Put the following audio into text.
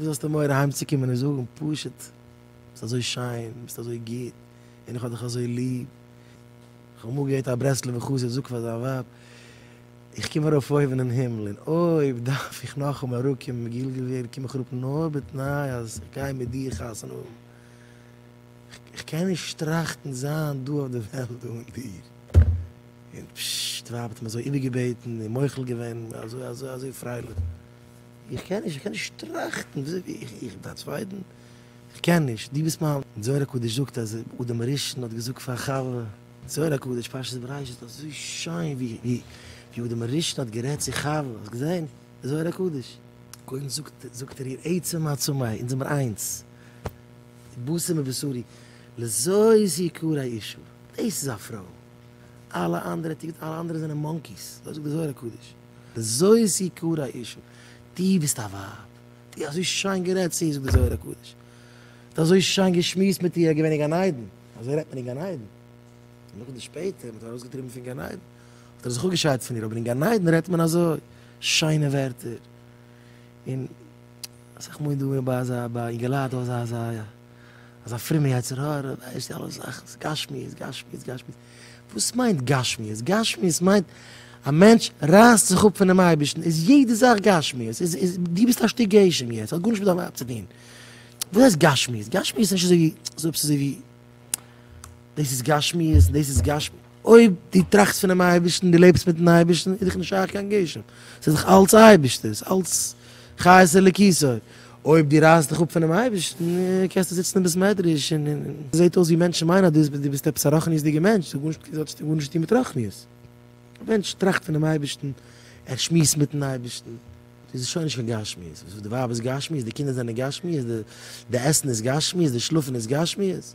וואס האסטו מורא אהיימצוקומען און זאגן פשוט ביסט אזוי שיין, ביסט אזוי גוט, און איך האב דיך אזוי ליב. איך האב אמאל געהערט א ברסלב'ער חסיד זאגט פאר זיין ווייב, איך קום ארויף אויבן אין הימל און אויב דארף איך נאכאמאל אראפקומען מגולגל ווערן קום איך אראפ נאר בתנאי אז איך גיי מיט דיר חתונה האבן. איך קען נישט טראכטן זיין דא אויף די וועלט אן דיר. און פששש די ווייב האט אים אזוי איבערגעבעטן און מוחל געווען און אזוי אזוי אזוי פרייליך. איך קען נישט, איך קען נישט טראכטן וויאזוי איך איך בין א צווייטן, איך קען נישט, דו ביסט מיין. זוהר הקדוש זאגט אז אדם הראשון האט געזאגט פאר חוה, זוהר הקדוש פרשת בראשית אזוי שיין ווי ווי אדם הראשון האט גערעדט צו חוה, האסט געזען זוהר הקדוש? קודם זאגט זאגט ער איר עצה מעצמיי, אונז זעמער איינס, בשר מבשרי, לזאת יקרא אישה, דאס איז א פרוי, אלע אנדערע טו, אלע אנדערע זענען מאנקיס, אזוי זאגט דער זוהר הקדוש. זוי איז זי קאר א אישו. דו ביסט א ווייב, דו אזוי שיין גערעדט צו איר זאגט די זוהר הקדוש, דו אזוי שיין געשמועסט מיט איר געווען אין גן עדן, אזוי רעדט מען אין גן עדן, און נאכדעם שפעטער מ'האט איר ארויסגעטריבן פון גן עדן האט ער זיך אפגעשיידט פון איר, אבער אין גן עדן רעדט מען אזוי שיינע ווערטער, און אסאך מאל איז דא ביי אזא ביי אינגעלייט דא אזא אזא. אז א פרומע יצר הרע ווייסט די אלע זאכן ס'איז גשמיות גשמיות גשמיות, וואס מיינט גשמיות? גשמיות מיינט א מענטש רייסט זיך אפ פונעם אייבערשטן איז יעדע זאך גשמיות, איז איז דו ביסט א שטיק גשם יעצט האט גארנישט מיט דיין ווייב צו טון, וואס הייסט גשמיות? גשמיות איז נישט אזוי ווי אזוי עפעס אזוי ווי דאס איז גשמיות און דאס איז גשמיות. אויב דו טראכסט פונעם אייבערשטן, דו לעבסט מיטן אייבערשטן, איז דיך נישט שייך קיין גשם, עס איז דאך אלץ אייבערשטער'ס, אלץ חיות אלוקיתו, אויב דו רייסט דיך אפ פונעם אייבערשטן, קענסטו זיצן אין בית מדרש און עס זעט אויס ווי מענטשן מיינען אז דו ביסט עפעס א רוחניות'דיגער מענטש, דאס האט נישט גארנישט צו טון מיט רוחניות, א מענטש טראכט פונעם אייבערשטן, ער שמועסט מיטן אייבערשטן, איז עס שוין נישט קיין גשמיות, די ווייב איז גשמיות, די קינדער זענען גשמיות, די עסן איז גשמיות, די שלאפן איז גשמיות.